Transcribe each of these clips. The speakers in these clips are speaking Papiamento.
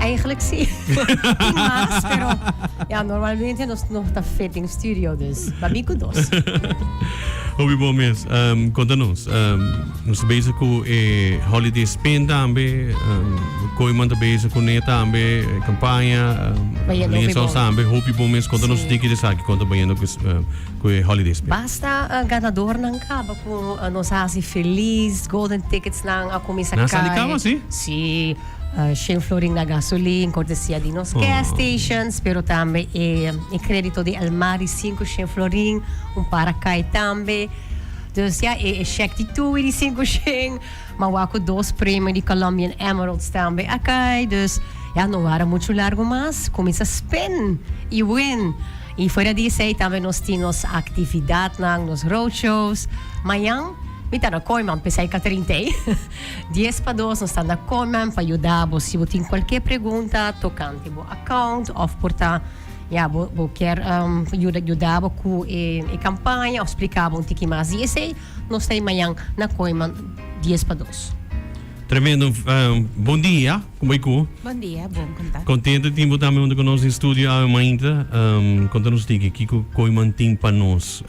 Eigenlijk sí. Tin mas, pero ja, normalmente nos no ta fit in studio, dus babi ku dos. Hopi bon mes. Um, konta nos. Um, nos bezig ku e holiday spin tambe. Um, Koiman ta bezig ku ne tambe e kampanja. Um, Ba yendo hopi Linsa bon. tambe hopi bon mes. Konta nos Sí. tiki de saki konta ba yendo ku s- um, ku e holiday spin. Basta uh, ganador nan kaba ku uh, nos hasi feliz, golden tickets nan a kumisa Na sali kai. kaba, sí? Sí. Shane Florin na gasolin cortesia di nos gas stations pero tambe e credito di el mas di sinku Shane Florin un para kai tambe dus ya e shek di tuwi di sinku Shane ma wak ku dos premio di Colombian Emeralds tambe a kai dus ya no wara muchu largu mas kuminsa spend i wen i fuera di esei tambe nos tin nos actividadnan nos roadshows mañan mi ta na koi man p'esei ka trinta i Dies pa dos nos ta na Commem pa yuda bo si bo tin cualkier pregunta tocante bo account of por ta ya bo kier yuda bo cu e campaña of splica bo un tiki mas di esey nos ta mayan na Commem dies pa dos. Tremendo bon dia como y cu. Bon dia bon con ta. Contento di tin bo tambe hunto con nos den studio awe mainta conta nos tiki kico Commem tin pa nos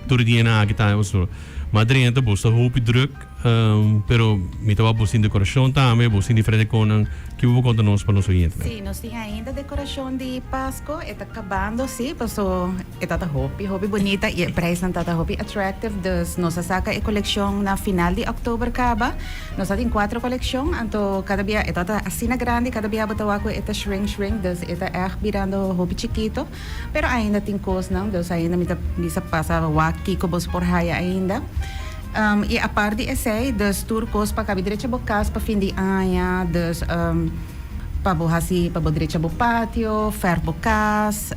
tur di hena aki ta ostor ma drenta bo sta hopi druk. Pero mi ta wak bo sin decorashon tambe, bo sin diferente konan. Kibo bo konta nos pa nos oyente? Sí, nos tin ainda dekorashon di Pasko. E ta kabando, sí, paso e ta ta hopi, hopi bunita i e preisnan ta ta hopi attractive. Dus nos a saka e kolekshon na final di òktober kaba. Nos a tin kuater kolekshon, anto kada bia e ta ta asina grandi, kada bia bo ta wak ku e ta shrink, shrink, dus e ta ègt birando hopi chikito. Pero ainda tin kosnan, dus ainda mi ta bisa pasa wak kiko bo su por haya ainda. I apart di esei, dus tur kos pa kabi drecha bo kas pa fin di aña, dus pa bo hasi pa bo drecha bo patio, fèrf bo kas,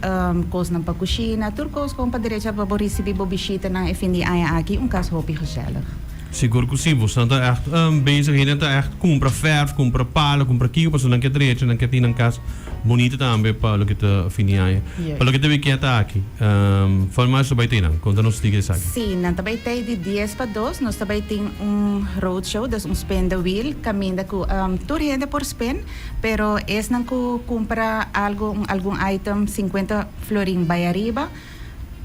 kosnan pa kushina, tur kos bon pa drecha pa bo risibí bo bishitanan e fin di aña aki, un kas hopi gesèlig. Sigur ku si, bosan ta ègt bezig, hende ta ègt kumpra fèrf, kumpra pala, kumpra kiko pasobra nan ke drecha, nan ke tin nan kas. Bunito tambe pa loke ta fini aña. Pa loke ta bai kiet aki, Farmers lo bai tei nan? Konta nos tika esaki. Sí, nan ta bai tei di dies pa dos. Nos ta bai tin un roadshow, dus un spin the wheel, kaminda ku tur hende por spin, pero esnan ku kumpra algu, un algun item sinkuenta florin bai ariba,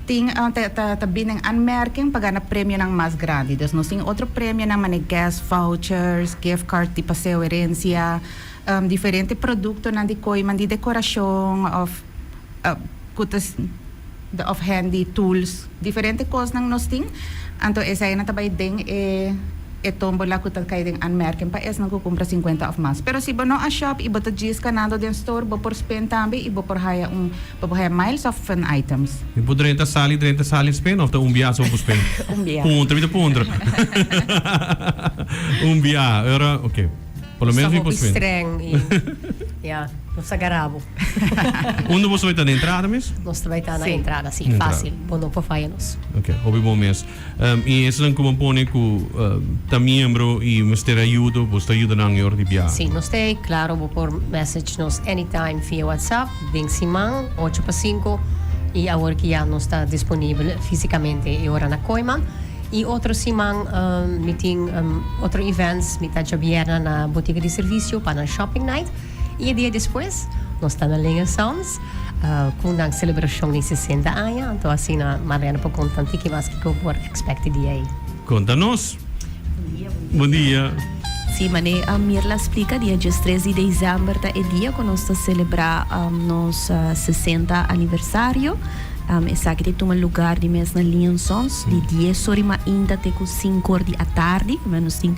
tin ta ta bini den anmerking pa gana premionan mas grandi. Dus nos tin otro premionan manera guest vouchers, gift card di Paseo Herencia. Diferente produktonan di koiman di dekorashon òf ku ta òf hèndi tools, diferente kosnan nos tin. Anto eseinan ta bai den e tómbola ku ta kai den Anmerken pa esnan ku kumpra sinkuenta òf mas. Pero si bo no a shòp i bo ta djis kanando den stor, bo por spin tambe i bo por haya un bo por haya miles òf fun items. Mi por drenta sal i drenta sal i spin òf ta un biaha so ku spin? Un biaha. Puntra, mi ta puntra. Un biaha, ora. Oké. Por lo menos mi por streng y ya nos a garabo. Undo boso beta na entrada mes? Nos ta beta na entrada, sí, fácil. Bo no por falla nos. Ok, hopi bon mes. Um, y esnan como pone cu uh, ta miembro y mester ayuda, boso ta ayuda nan yor di biaha? Sí, nos te, claro, bo por message nos anytime via WhatsApp, den siman, ocho pa cinco, y awor ki ya nos ta disponible físicamente e ora na Koima. I otro siman mi tin otro events mi ta djobierna na botiga di servisio pa nan shopping night i e dia despues nos ta na Lenya Sounds ku nan selebrashon di sesenta aña anto asina Marlene por konta un tiki mas kiko por ekspekt e dia ei. Konta nos. Bon dia. Si, mane Mirla splika dia djes tres di desèmber ta e dia ku nos ta selebrá nos sesenta aniversario. Esaki ta tuma lugar di mes na liansons di dies or i mainta te ku sinku or di atardi. Nos tin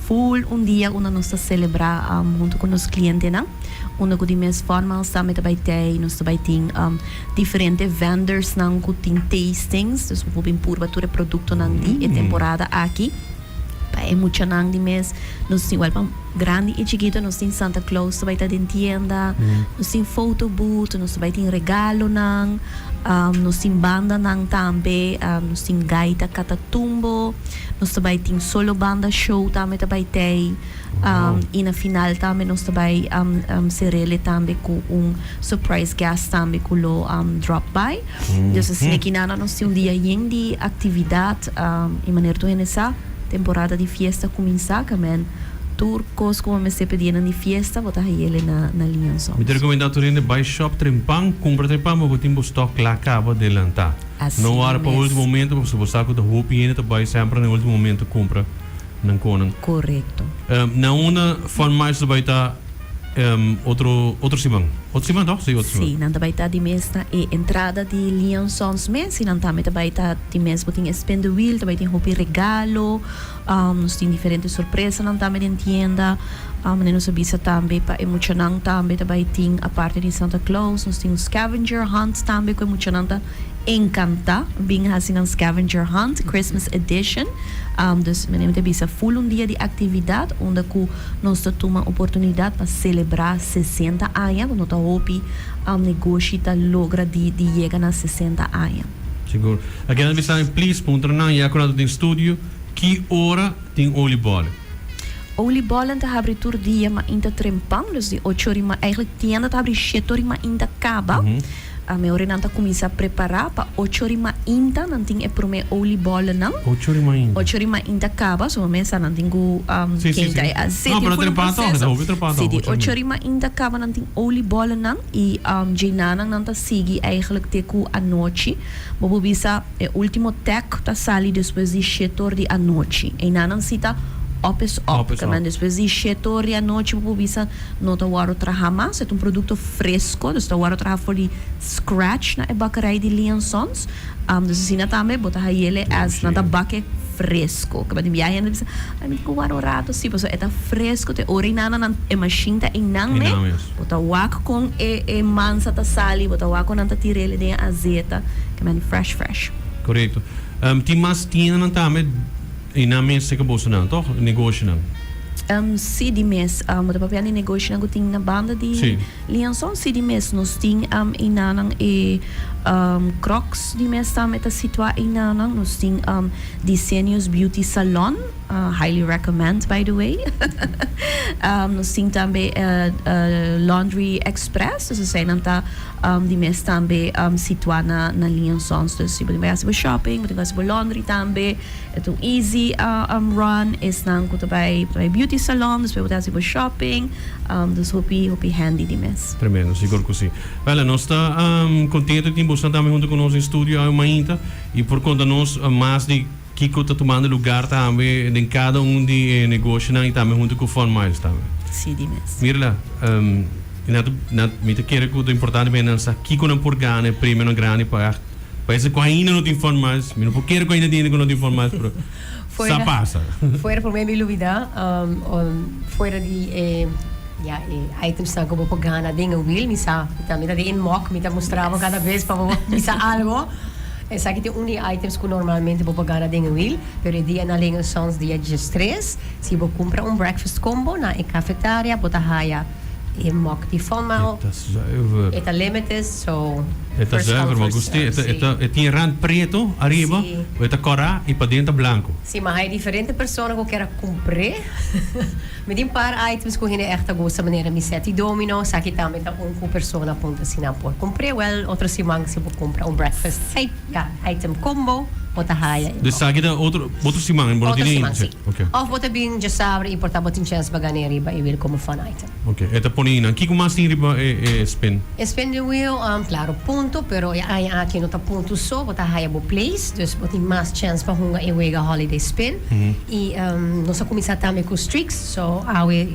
full un dia unda nos ta selebrá huntu ku nos klientenan. Unda ku di mes fòrma alsa mi ta bai tei, nos ta bai tin diferente vendors nan ku tin tastings. Dus bo por bin purba tur e produktonan di e temporada aki. Pa e muchanan di mes, nos tin wèlpan, grandi i chikito, nos tin Santa Claus ta bai ta den tienda, nos tin foto booth, nos ta bai tin regalonan, nos tin bandanan tambe, nos tin gaita Catatumbo, nos ta bai tin solo banda show tambe ta bai t'ei. Y na final tambe nos ta bay cerele tambe cu un surprise guest tambe cu lo drop by. Dus esey aki nada nos tin un dia yen di actividad y manera tur hende sa temporada di fiesta cuminsa camen tur cos cu bo mester pedi enan di fiesta bo ta hayele na Liansons. Mi ta recomenda tur hende bay shop tren pan, cumpra tren pan ma bo tin bo stock cla caba delanta. No wara pa ultimo momento pasobra bo sa cu ta hopi hende ta bay semper na ultimo momento cumpra. nan konan. Korekto. Na una fun march ta bai ta otro otro siman. Otro siman tok? Si, otro siman. Si, nan ta bai ta di mes na e entrada di Lion Sons mes i nan tambe ta bai ta di mes bo tin e spin the wheel ta bai tin hopi regalo, nos tin diferente sorpresanan tambe den tienda, manera nos a bisa tambe pa e muchanan tambe ta bai tin aparte di Santa Claus nos tin un scavenger hunt tambe ku e muchanan ta. Encanta bin haci nan Scavenger Hunt Christmas Edition. Dus mene mi ta bisa full un dia di actividad unda cu nos ta tuma oportunidad pa celebra sesenta aña cu no ta hopi negoshi ta logra di di yega na sesenta aña. Sigur. A keda mi sabi please puntra nan ya cu nan ta tin studio ki ora tin oliebollen? Oliebollen ta habri tur dia mainta trempan, dus di ocho ori ma, eigenlijk tienda ta habri shete ori mainta caba. Ami ora nan ta kuminsá prepará pa ocho ori mainta nan tin e promé olie bòllenan. Ocho ori mainta. Ocho ori mainta kaba so mesa nan tin ku kenta e aseti. No, pero a trepá tòg, e ta hopi trepá tòg. Siti, ocho ori mainta kaba nan tin olie bòllenan i dje nanan nan ta sigui eigelijk te ku anochi. Bo por bisa e último tèk ta sali despues di shete or di anochi. Einan nan sita òp es òp. Kanda despues di shete or di anochi bo por bisa. No ta wòrdu traha mas. E ta un produkto fresko, dus ta wòrdu traha for di scratch na e bakerai di Lee and Sons. Dus asina tambe bo ta hayele as nan ta bak e fresko. Kaba tin bia hende bisa, Ai, mi tin ke wòrdu un rato si, pasobra e ta fresko te ora ei nana nan e mashin ta einan mes. Bo ta wak kon e e mansa ta sali, bo ta wak kon nan ta tira ele den e azeta. Kaba tin fresh fresh. Korekto. Tin mas tiendanan tambe. I nan mes te kaboso nan toch? Negoshinan. Em, si di mes. Em, ta papia di negoshinan ku tin na banda di Si. Lianson? Si di mes nos tin, em, einanan e, em, Crocs di mes tambe ta situa einanan. Nos tin, em, Diseños Beauty Salon, ah, highly recommend by the way. Em, nos tin tambe e, e, Laundry Express. Dus esei nan ta, em, di mes tambe, em, situa na, na Liansons. Dus si bo tin bay hasi bo shopping, bo tin bay hasi bo laundry tambe. E tu easy um run esnan cu ta bay ta bay beauty salon despues bo ta haci bo shopping um dus hopi hopi handy di mes. Tremendo, sigur cu si. Wella, nos ta um contento di tin boso tambe hunto cu nos den studio awe mainta y por conta nos mas di kico ta tumando lugar tambe den cada un di e negoshonan y tambe hunto cu Fun Miles tambe. Si di mes. Mira la, um y nan ta nan mi ta kere cu ta importante pa e nan sa kico nan por gana e premionan grandi pa. Pa esa cu ainda no tin formas, mi no por kere cu ainda tin hende cu no tin formas, pero sa pasa. Fuera, prome mi lubida, fuera di e, ya, e items nan cu bo por gana den e wheel, mi sa, mi ta, mi ta den e mock, mi ta mustra bo cada bes pa bo bisa algo. Esaki tin un di e items cu normalmente bo por gana den e wheel, pero e dia na Ling and Sons dia djis tres, si bo cumpra un breakfast combo na e cafetaria, bo ta haya. E mok di Fomal e ta limited so e ta zuiver ma gusti e tin rand preto ariba e ta kora i paden ta blanko. Si ma hay diferente persona ku kier a kumpré mi tin par items ku hende echt a gusta manera mi set di domino esaki tambe ta un ku persona puntra si nan por kumpré wèl otro siman si bo kumpra un breakfast. Ya, item combo bo ta haya en. Desaki ta otro otro siman en bo no tini inche. Of bo ta bin djesabre y por ta bo tin chens pa gane riba e wheel como fun item. Ok, e ta pone inan. Kico mas tin riba e e spin? E spin di wheel, claro punto, pero e aña aki no ta punto so, bo ta haya bo place, dus bo tin mas chens pa hunga e wega holiday spin. Y nos a cuminsa tambe cu streaks, so awe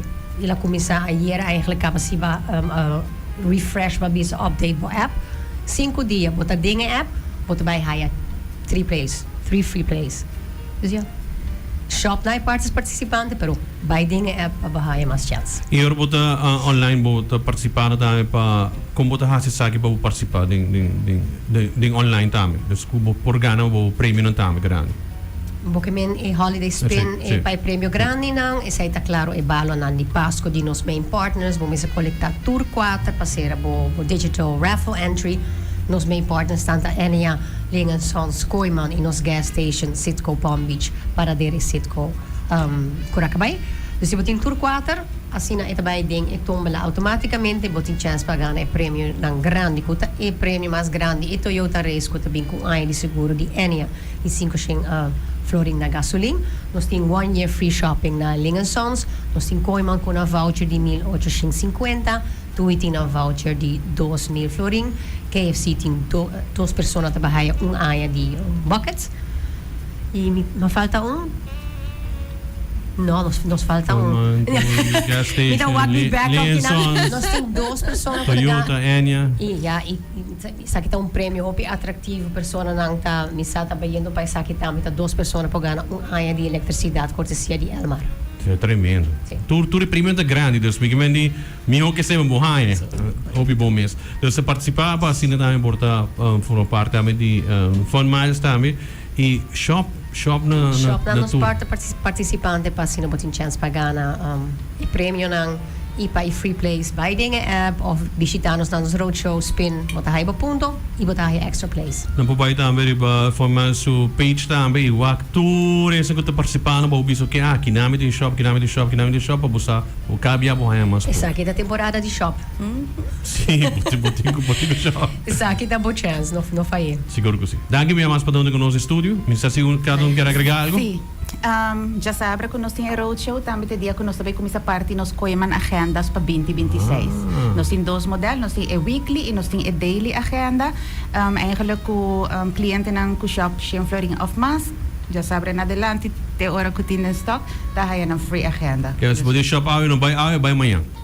el a cuminsa, ayer eigenlijk caba siba. Refresh ba bisa update bo app. Sinku dia bo ta den e app, bo ta bai haya three plays, three free plays. Dus ya. Shop na e partes participante, pero bai den e app pa bo haya mas chance. Y ora bo ta online bo ta participa na tambe pa con bo ta haci esaki pa bo participa den den den den online tambe. Dus cu bo por gana bo premionan tambe grandi. Bokemen e holiday spin e pa e premio grandinan, esei ta klaro e balonan di Pasko di nos main partners. Bo mester kolektá tur kuater pa sera bo digital raffle entry. Nos main partners ta ta NEA, Ling & Sons, Kooiman i nos gas station Citgo Palm Beach, Paradera i Citgo Curacabai. Dus si bo tin tur kuater, asina e ta bai den e tómbola outomátikamente. Bo tin chèns pa gana e premionan grandi, ku ta e premio mas grandi, e Toyota Race ku ta bin ku un aña di seguro di NEA. I sinku shen a Florin na Gasolin. Nos tin one year free shopping na Ling and Sons. Nos tin Kooiman ku nan voucher di mil ocho shen sinkuenta. Tui tin nan voucher di dos mil florin. KFC tin dos persona ta bai haya un aña di buckets. I mi ta falta un? No, nos falta un. Kooiman, Tui, Gas Station, Mi ta wak mi bek. Ling and Sons. Nos tin dos persona ku ta. Toyota, Enya. I ya, i. Esaki ta un premio hopi atractivo, personanan ta misa ta bayendo pa esaki tambe, ta dos persona por gana un aña di electricidad cortesia di Elmar. Tremendo. Tur tur e premionan ta grandi, dus mi ke mende miho ke sebe bo haña. Hopi bon mes. Dus ta participa pa asina tambe por ta forma parti tambe di Fun Miles tambe. Y shop shop na na Shop nan na nos tur. por ta partici- participante pa asina bo tin chance pa gana um, e premionan y pa e free plays. Bay den e app of bishita nos na nos roadshow spin. Bo ta haya bo punto y bo ta haya extra plays. Nan por bay tambe riba forma su page tambe y wak tur esnan cu ta participa na bo bisa oke aki nami tin shop aki nami tin shop aki nami tin shop pa bo sa bo cabia bo haya mas punto. Esaki ta temporada di shop. Si bo tin bo tin cu bo tin cu shop. Esaki ta bo chance, no no fay'é. Sigur cu si. Danki mia mas pa done cu nos e studio. Mi sa si un cada un kier agrega algo. Sí. Dja sabra cu nos tin e roadshow tambe t'e dia cu nos ta bay cuminsa parti nos Koeman Agendas pa binti binti seis. Nos tin dos model, nos tin e weekly y nos tin e daily agenda. Eigenlijk cu clientenan cu shop Shin Florin of mas, dja sabra en adelanti te ora cu tin den stock ta haya nan free agenda. Kende si por dia shop awe no bay awe, bay mañan.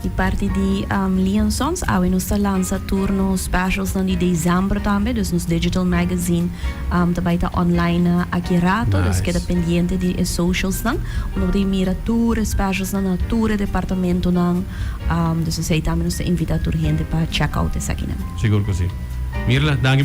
Di parti di Lion Sons awe nos ta lansa tur nos specialsnan di dezember tambe, dus nos digital magazine ta bai ta online aki rato, dus keda pendiente di e socialsnan unda bo ta e mira tur e specialsnan na tur e departamentonan, dus esei tambe nos ta invita tur hende pa check out esakinan. Sigur cu si. Mirla, danki.